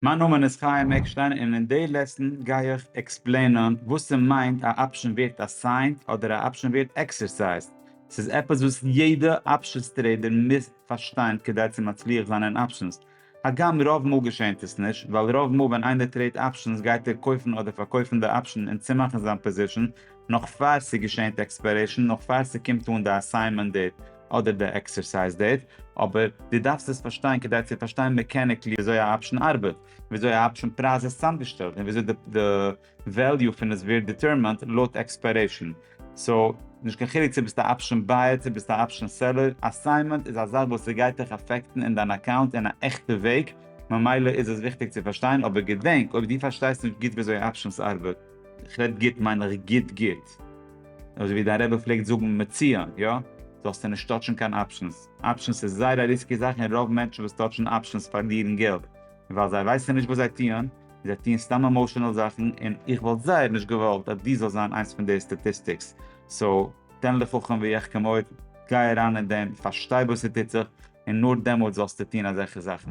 מיין נאמען איז חיים עקשטיין און אין די לעסן גיי איך עקספלעינען וואס ס'מיינט א אפשען ווערט אסיינט אדער א אפשען ווערט עקסערסייזד. ס'איז עפעס וואס יעדע אפשענס טרעידער מוז פארשטיין כדי צו מצליח זיין אין אפשענס. הגם רוב מאל געשענט עס נישט, ווייל רוב מאל ווען איינער טרעיד אפשענס גייט ער קויפן אדער פארקויפן די אפשען און צומאכן זיין פאזישאן נאך פאר ס'געשענט עקספיירעישאן נאך פאר ס'קומט אן די אסיינמענט דעיט, אדער די עקסערסייז דעיט, אבער דו דארפסט עס פארשטיין כדי צו פארשטיין מעקעניקלי וויאזוי א אפשן ארבעט, וויאזוי א אפשן פרייז איז צוזאמגעשטעלט, און וויאזוי די וועליו פון עס ווערט דיטערמענט לויט עקספיירעישן. סאו, נישט קיין חילוק צו ביסט א אפשן בייער צו ביסט א אפשן סעלער, אסיינמענט איז א זאך וואס עס גייט דיך אפעקטן אין דיין אקאונט אין א עכטע וועג, ממילא איז עס וויכטיג צו פארשטיין, אבער געדענק, אויב דו פארשטייסט נישט גוט וויאזוי אפשנס ארבעט, איך רעד גוט מיין איך גוט גוט. אזוי ווי דיין רבי פלעגט זאגן מצוין, יא? זאלסטו נישט טאטשן קיין אפשענס. אפשענס איז זייער א ריסקי זאך און רוב מענטשן וואס טאטשן אפשענס פארלירן געלט. און ווייל זיי ווייסן נישט וואס זיי טוען, און זיי טוען סתם עמאושענעל זאכן, און איך וואלט זייער נישט געוואלט אז דו זאלסט זיין איינס פון די סטאטיסטיקס. סאו, תן לחכם ויחכם עוד, גיי אריין אין דעם, פארשטיי וואס ס'טוט זיך, און נאר דעמאלט זאלסטו טוען אזעלכע זאכן.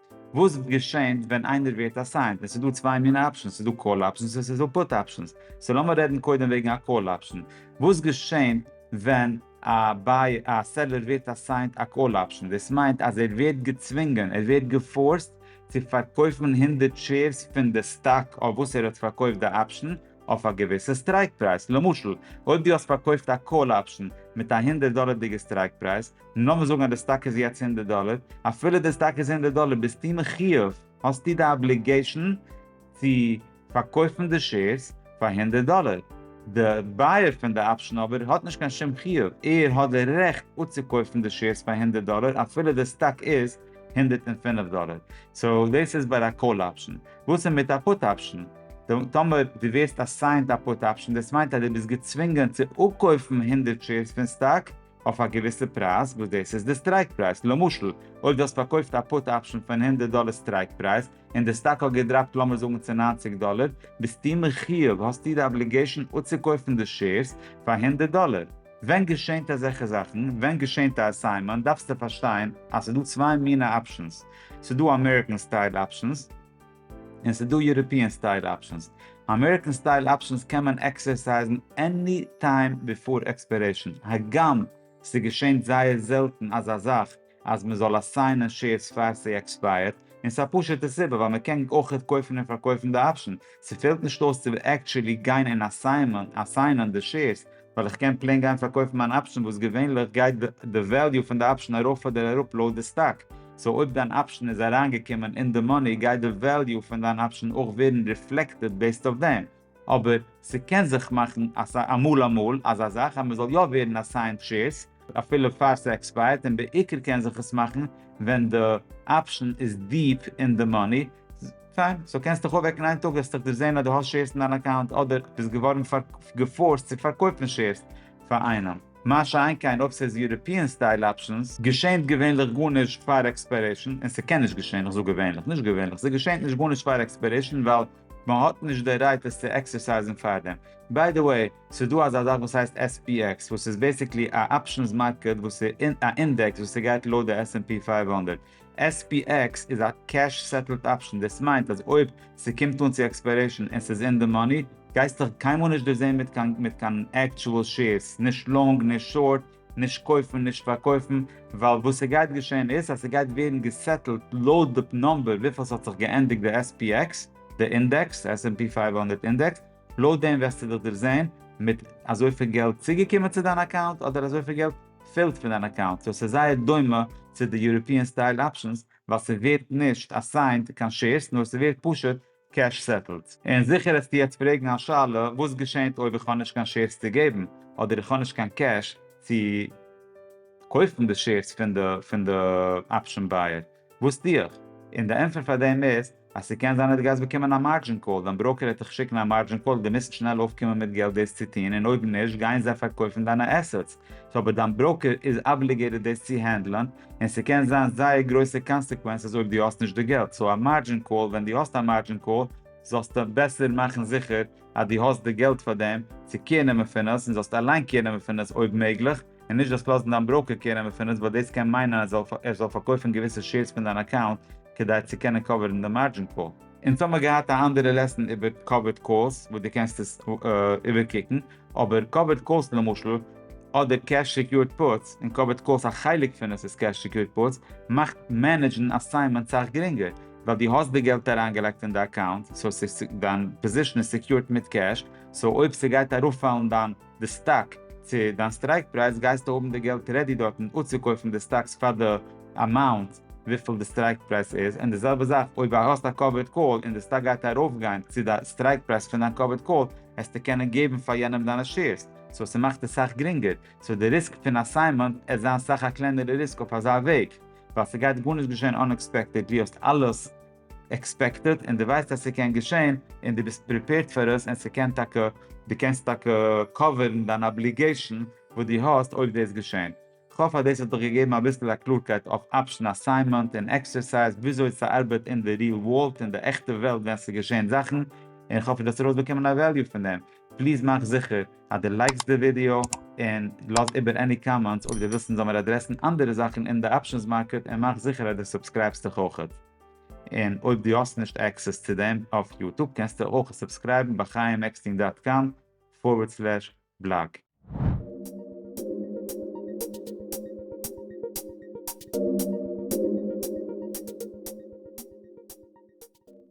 וואס וועט געשען ווען איינער ווערט אסיינט? עס איז דא צוויי מינע אפשענס, עס איז דא קאל אפשענס און עס איז דא פוט אפשענס. סאו לאמיר רעדן קודם וועגן א קאל אפשען. וואס געשען ווען א בייער, א סעלער ווערט אסיינט א קאל אפשען? דאס מיינט אז ער ווערט געצווינגען, ער ווערט געפארסט צו פארקויפן הונדערט שעירס פון די סטאק אויף וואס ער האט פארקויפט די אפשען אויף א געוויסע סטרייק פרייז. למשל, אויב דו האסט פארקויפט א קאל אפשען מיט א הונדערט דאלערדיגע סטרייק פרייז, און לאמיר זאגן אז די סטאק איז יעצט הונדערט דאלער, אפילו די סטאק איז הונדערט דאלער ביסטו מחיוב, האסטו די אבליגעישאן צו פארקויפן די שעירס פאר הונדערט דאלער, די בייער פון די אפשן אבער האט נישט קיין שום חיוב, ער האט די רעכט אצוקויפן די שעירס פאר הונדערט דאלער אפילו די סטאק איז הונדערט און פֿינף דאלער, סאו דאס איז ביי א קאל אפשן. וואס איז מיט א פוט אפשן? טאמער דו ווערסט אסיינט א פוט אפשן דאס מיינט אז דו ביסט געצווינגען צו אפקויפן הונדערט שעירס פון סטאק אויף א געוויסע פרייז וואס דאס איז די סטרייק פרייז, למשל אויב דו האסט פארקויפט א פוט אפשן פון הונדערט דאלער סטרייק פרייז און די סטאק האט געדראפט לאמיר זאגן צו נײַנציק דאלער, ביסטו מחיוב, האסטו די אבליגעישן אפצוקויפן די שעירס פאר הונדערט דאלער. ווען געשענט אזעלכע זאכן? ווען געשענט א עסיימענט דארפסטו פארשטיין אז ס'דא צוויי מינע אפשנס, ס'דא אמעריקען סטייל אפשנס, און ס'איז דא יוראפיען סטייל אפשענס. אמעריקען סטייל אפשענס קען מען עקסערסייזן עני טיים ביפאר עקספערעישן, הגם ס'געשענט זייער זעלטן אזא זאך אז מ'זאל אסיינען שעירס פאר ס'עקספייערט, און ס'א פשוטע סיבה ווייל מ'קען אויכעט קויפן און פארקויפן די אפשען, ס'פעלט נישט אויס צו עקטשעלי גיין און אסיינען די שעירס, ווייל איך קען פלעין גיין פארקויפן מיין אפשן וואס געווענליך גייט די וועליו פון די אפשן ארויף אדער אראפ לויט די סטאק, סאו אויב דיין אפשן איז אריינגעקומען אין די מאני גייט די וועליו פון דיין אפשן אויך ווערן ריפלעקטעד בעיסד אויף דעם, אבער ס'קען זיך מאכן אמאל אמאל אזא זאך אז מ'זאל יא ווערן אסיינד שעירס, אפילו פאר ס'עקספייערט, און בעיקר קען זיך עס מאכן ווען די אפשן איז דיעפ אין די מאני, פיין, סאו קענסט דיך אויפוועקן איין טאג וועסטיך דערזעהן אז דו האסט שעירס אין דיין אקאונט אדער ביסט געווארן געפארסט צו פארקויפן שעירס פאר איינעם, מה שאין כן אויב ס'איז יוראפיען סטייל אפשנס, געשענט געווענליך גארנישט פאר עקספיירעישן, און ס'קען נישט געשען, איך זאג געווענליך, נישט געווענליך, ס'געשענט נישט גארנישט פאר עקספיירעישן ווייל מ'האט נישט די רייט עס צו עקסערסייזן פארדעם, ביי די וועי, ס'איז דא אזא זאך וואס הייסט SPX וואס איז בעסיקלי א אפשענס מארקעט וואס איז א אינדעקס וואס איז גייט לויט די SNP פֿינף הונדערט. SPX איז א קעש סעטעלד אפשען, דאס מיינט אז אויב ס'קומט אן צו עקספיירעישן און ס'איז אין די מאני גייסטעך קיינמאל נישט דערזעהן מיט קיין מיט קיין עקטשועל שעירס, נישט לאנג נישט שארט, נישט קויפן נישט פארקויפן, ווייל וואס ס'גייט געשעהן איז אז ס'גייט ווערן געסעטעלד לויט די נומבער וויפיל ס'האט זיך געענדיגט די SPX, די אינדעקס, SNP פֿינף הונדערט אינדעקס, לויט דעם וועסטו דיך דערזען מיט אזויפיל געלט צוגעקומען צו דיין אקאונט אדער אזויפיל געלט פעלט פון דיין אקאונט, סאו ס'איז זייער דומה צו די יוראפיען סטייל אפשענס ווייל ס'ווערט נישט אסיינד קיין שעירס נאר ס'ווערט פשוט קעש סעטלד. און זיכער העסטו יעצט פרעגן א שאלה וואס געשענט אויב איך האב נישט קיין שעירס צו געבן אדער איך האב נישט קיין קעש צו קויפן די שעירס פון די אפשען בייער, וואס טו איך? און די ענטפער פאר דעם איז אז ס'קען זיין אז דו גייסט באקומען א מארדזשין קאל, דיין בראוקער העט דיך שיקן א מארדזשין קאל, דו מוזט שנעל אויפקומען מיט געלט דאס צו טון און אויב נישט גייען זיי פארקויפן דיינע עסעטס, סאו אבער דיין בראוקער איז אבליגעיטעד דאס צו הענדלען און ס'קען זיין זייער גרויסע קאנסעקווענסעס אויב דו האסט נישט די געלט, סאו א מארדזשין קאל, ווען דו האסט א מארדזשין קאל זאלסטו בעסער מאכן זיכער אז דו האסט די געלט פאר דעם צו קעיר נעמען פון עס און זאלסט אליין קעיר נעמען פון עס אויב מעגליך, און נישט דאס לאזן דיין בראוקער קעיר נעמען פון עס ווייל דאס קען מיינען אז ער זאל פארקויפן געוויסע שעירס פון דיין אקאונט כדי צו קענען קאווערן די מארדזשין קאל. אונז האמיר געהאט א אנדערע לעסן איבער קאווערד קאלס וואס דו קענסט עס איבערקוקן, אבער קאווערד קאלס למשל אדער קעש סעקיורד פוטס, און קאווערד קאלס א חלק פון עס איז קעש סעקיורד פוטס, מאכט מענעדזשן אסיינמענט סאך גרינגער, ווייל דו האסט די געלט אריינגעלייגט אין די אקאונט, סאו דיין פאזישן איז סעקיורד מיט קעש, סאו אויב ס'גייט ארויפפאלן דיין. די סטאק צו דיין סטרייק פרייז גייסטו האבן די געלט רעדי דארטן אפצוקויפן די סטאקס פאר די אמאונט וויפיל די סטרייק פרייז איז, און די זעלבע זאך אויב א האסט א קאווערד קאל און די סטאק גייט ארויפגיין צו די סטרייק פרייז פון דיין קאווערד קאל העסטו קענען געבן פאר יענעם דיינע שעירס, סאו ס'מאכט עס סאך גרינגער, סאו די ריסק פון אסיינמענט עט זיין סאך א קלענערע ריסק אויף אזא וועג ווייל ס'גייט גארנישט געשען אנעקספעקטעדלי האסט אלעס עקספעקטעד און דו ווייסט אז ס'קען געשען און דו ביסט פריפעירד פאר עס און ס'קען טאקע דו קענסט טאקע קאווערן דיין אבליגעישן וואס דו האסט אויב דאס געשענט. כ'האף אז דאס האט דיך געגעבן אביסל א קלארקייט אויף אפשן אסיימענט און עקסערסייז וויאזוי ס'ארבעט אין די ריעל ווארלד אין די עכטע וועלט ווען ס'געשען זאכן און כ'האף דו האסט ארויסבאקומען א וועליו פון דעם. פליז מאך זיכער אז דו לייקסט די ווידיאו און לאז איבער עני קאמענטס, אויב דו ווילסט אונז זאלמיר אדרעסן אנדערע זאכן אין די אפשענס מארקעט, און מאך זיכער אז דו סובסקרייבסט דיך אויך. און אויב דו האסט נישט עקסעס צו דעם אויף יוטוב קענסטו אויך סובסקרייבן ביי חיים עקסטין דאט קאם פארווערד סלעש בלאג.